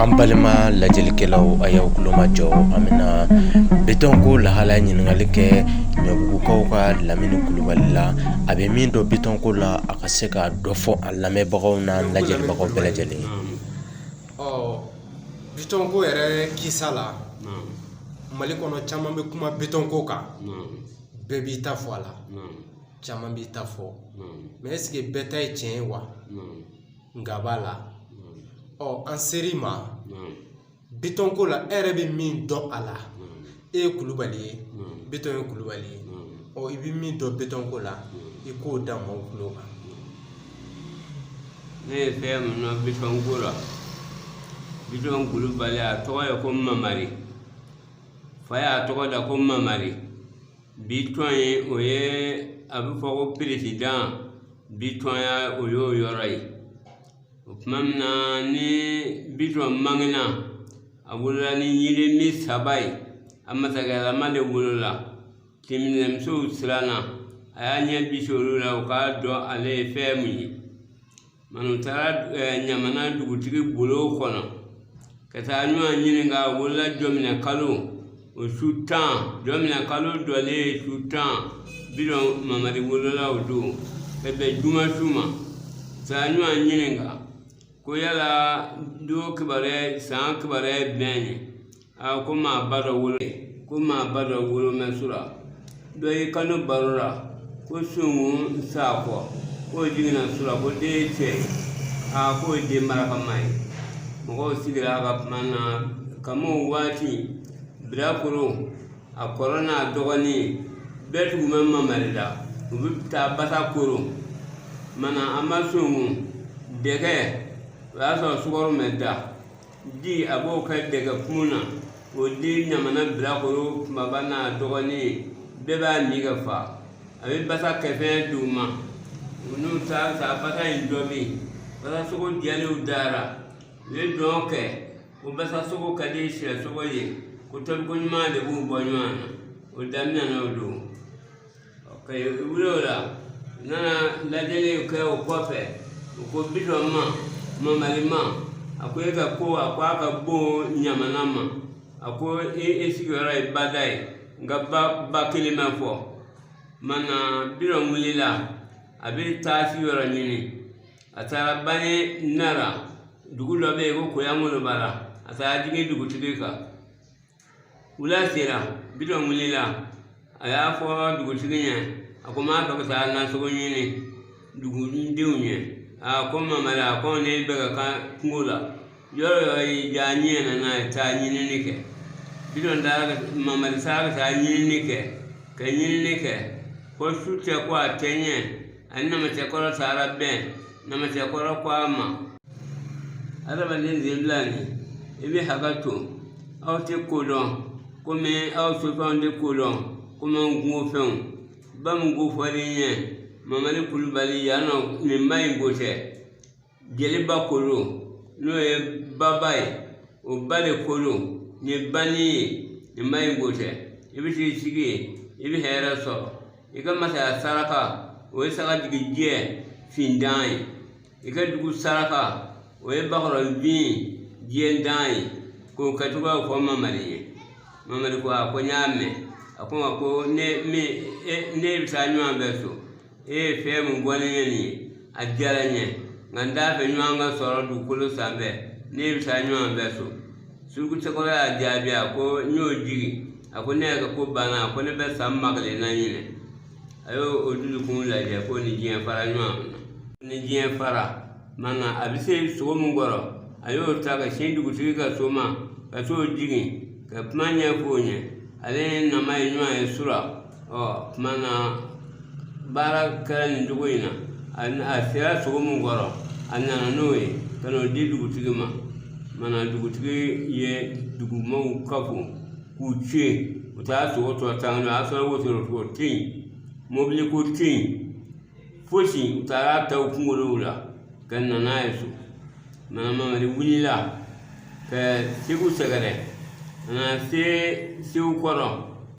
an balima lajɛlikɛlaw a y'aw kulomajɔ an bɛna bitɔn ko lahala ɲininkali kɛ ɲɔbugukaw ka lamini kulubali la a bɛ min dɔn bitɔn ko la a ka se ka dɔ fɔ a lamɛnbagaw n'a lajɛlibagaw bɛɛ lajɛlen ye bitɔn ko yɛrɛ kisa la mali kɔnɔ caman bɛ kuma bitɔn ko kan bɛɛ b'i ta fɔ a la caman b'i ta fɔ mɛ ɛseke bɛɛ ta ye tiɲɛ ye wa nka b'a la ɔ an ser'i ma bitɔn ko la e yɛrɛ bɛ min dɔn a la e ye kulubali ye bitɔn ye kulubali ye ɔ i bɛ min dɔn bitɔn ko la i k'o da mɔgɔw tulo kan ne ye fɛn min dɔn bitɔn ko la bitɔn kulubali a tɔgɔ ye ko mamari fa y'a tɔgɔ da ko mamari bitɔn ye o ye a bɛ fɔ ko peresidan bitɔnya o y'o yɔrɔ ye o tuma min na ni bitɔn bangena a wolola ni yirimi saba ye a masakɛlama de wolola tinminɛmusow siranna a y'a ɲɛ bisi olu la u k'a dɔn ale ye fɛn min ye minnu taara ɲamana dugutigi bulon kɔnɔ ka taa ɲɔgɔn ɲininka a wolola jɔminɛ kalo o su tan jɔminɛ kalo dɔlen ye su tan bitɔn mamari wolola o don ka bɛn juma su ma taa ɲɔgɔn ɲininka ko yala don kibaruya san kibaruya ye bɛn ye aa ko maa ba dɔ wolo mɛn su la dɔ y'i kanto baro la ko sunkun sakɔ k'o jiginna su la ko den ye cɛ ye aa k'o ye den barakama ye mɔgɔw sigira a ka kuma na ka mɔ waati bilakoro a kɔrɔ n'a dɔgɔnin bɛɛ tugu bɛ mamari la u bɛ taa basa koro mana an ma sunkun dɛgɛ o y'a sɔrɔ sukaro ma da di a b'o kɛ dɛgɛ kun na o di ɲamana bilakoro kunbaba n'a dɔgɔnin bɛɛ b'a min ka fa a bɛ basa kɛfɛn di u ma u n'u taara sa basa in tobi basa sogo diyalen u da la u ye dɔn kɛ ko basa sogo ka di sɛ sogo ye ko tobiko ɲuman de b'u bɔ ɲɔgɔn na o daminɛna o don ka wuli o la u nana lajɛli kɛ o kɔfɛ u ko bitɔn ma mamari ma a ko e ka ko a ko a ka bon ɲamana ma a ko e sigiyɔrɔ ye ba da ye nka ba ba kelen ma fɔ mana bitɔn wulila a bɛ taa sigiyɔrɔ ɲini a taara banin da la dugu dɔ bɛ yen ko koyankolobara a taara jigin dugutigi kan wula sera bitɔn wulila a y'a fɔ dugutigi ɲɛ a ko n b'a fɛ ka taa nasogo ɲini dugudenw ɲɛ a ko mamari a ko ne bɛ ka kan kungo la yɔrɔ yɔrɔ y'i diya n ɲɛ na n'a ye taa ɲinini kɛ bitɔn taara ka mamari taara ka taa ɲinini kɛ ka ɲinini kɛ fo su cɛ ko a tɛ ɲɛ a ni namacɛkɔrɔ taara bɛn namacɛkɔrɔ ko a ma adamaden senfilanin i bɛ hakɛ to aw tɛ ko dɔn komi aw sofɛnw tɛ ko dɔn komi an kungo fɛnw ba min ko fɔr'i ɲɛ mamari kulubali yan nɔ nin ba in ko tɛ jeliba ko don n'o ye baba ye o ba de ko don nin ye banin ye nin ba in ko tɛ i bɛ t'i sigi yen i bɛ hɛrɛ sɔrɔ i ka masaya saraka o ye sagajigijɛ fintan ye i ka dugu saraka o ye bakɔrɔnfin jɛntan ye k'o kɛcogoyaw fɔ mamari ye mamari ko a ko n y'a mɛn a k'o ma ko ne ni e bɛ taa ɲɔgɔn fɛ so e ye fɛn min bɔ ne ɲɛ nin ye a diyara n ye nka n t'a fɛ ɲɔgɔn ka sɔrɔ dugukolo sanfɛ ne n'i bɛ taa ɲɔgɔn fɛ so surukucɛkɔrɔ y'a jaabi a ko n y'o jigi a ko ne yɛrɛ ka ko banna a ko ne bɛ san ba kelen na ɲinan a y'o dusukun lajɛ k'o ni diɲɛ fara ɲɔgɔn na ni diɲɛ fara mana a bɛ se sogo min kɔrɔ a y'o ta ka sin dugutigi ka so ma ka t'o jigin ka kuma ɲɛfɔ o ɲɛ ale ni nama ye ɲɔgɔn ye sura o tuma na baara kɛra nin cogo in na a sera sogo min kɔrɔ a nana n'o ye ka n'o di dugutigi ma mana dugutigi ye dugumɔgɔw kafo k'u ci yen u taara sogo tɔ ta o y'a sɔrɔ wotoro ko tɛ yen mobili ko tɛ yen fosi u taara a ta u kunkolow la ka na n'a ye so mana mamari wulila ka segu sɛgɛrɛ ka na se segukɔrɔ